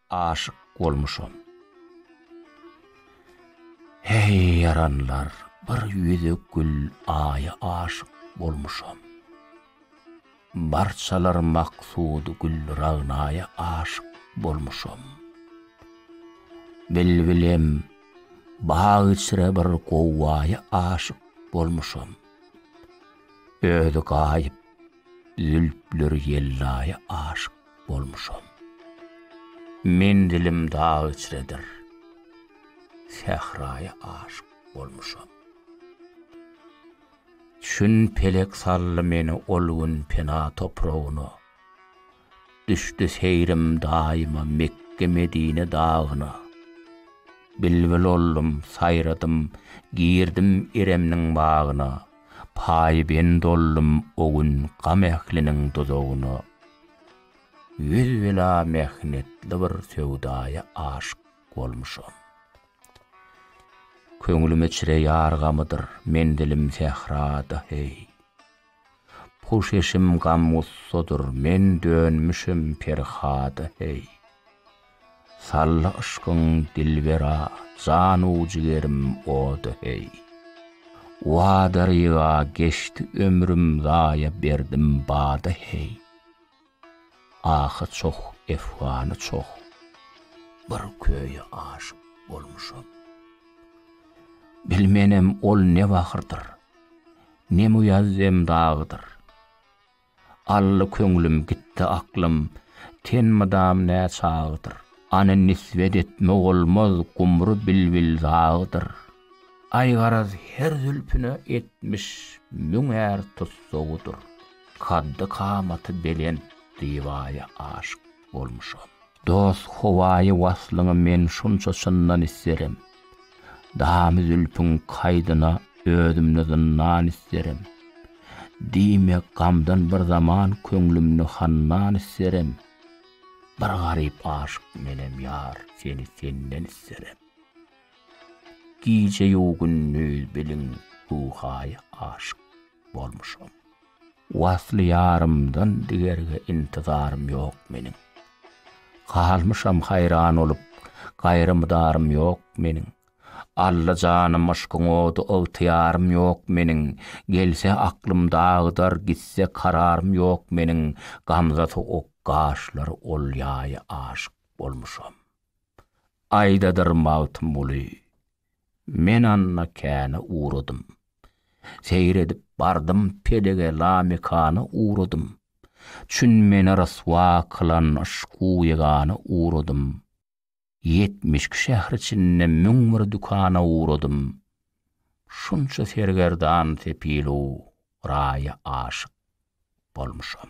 Aşyk bolmuşam. Heý ýaranlar bir ýüzük gül aýa aşyk bolmuşam. Barçalar maksud gül ragnaýa aşyk bolmuşam. Bilbilem bag içre bir gowwaýa aşyk bolmuşam. Özi gaýyp zülpleri ýellaýa aşyk bolmuşam. Menzilim dag içredir. Sähraýa aşyk bolmuşam. Çün pelek saldy meni ol gün pena topragyna. Düşdi seýrim daýyma Mekge-Medine dagyna. Bilbil oldum, saýradym, girdim Iremniň bagyna. paýbend oldum o gün gam ähliniň duzagyna. Ýüz-bela mähnetli bir söwdaýa aşyk bolmuşam. Köňlüme çire ýar gamydyr menzilim sährada, heý. Puş eşim gam-gussadyr men dönmüşem Perhada, heý. Salla yşkyň dilbera janu-jigerim oda heý. Wada-riga geçdi ömrüm zaýa berdim bada heý. Ahy çoh, efgany çoh, bir köýe aşyk bolmuşam. Bilmenem ol ne bahyrdyr, ne muýazzem dagydyr. Alla köňlüm gitdi aklym ten mydam nä çagydyr Any nisbet etme bolmaz gumry bilbil zagydyr Aý garaz her zülpüne etmiş müň är tussagydyr Kaddy kamaty belent divaýa aşyk bolmuşam. Dost howaýy waslyňy men şunça çyndan isterim, Damy zülpüň kaýdyna özümde zyndan isterim, Diýme gamdan bir zaman köňlümni handan isterim, Bir garyp aşyk menem ýar seni senden isterim, Gije-ýu gündüz biliň ruhaýy aşyk. bolmuşam. Wasly ýarymdan digerge intizarym ýok meniň. Galmyşam haýran olup, gaýry mydarym ýok meniň. Alla janym yşkyň ody ygtyýarym ýok meniň. Gelse aklym dagydar, gitse kararym ýok meniň. Gamza sowuk gaşlary olýaýy aşyk bolmuşam. Aýdadyr Magtymguly, Men anna käne ugradym. Seýr edip bardym pelege lamekana ugradym. Çün meni ryswa kylan yşku ýegana ugradym. Ýetmiş iki şähr içinde müň bir dükana ugradym. Şunça sergerdan sepilu raýa aşyk bolmuşam.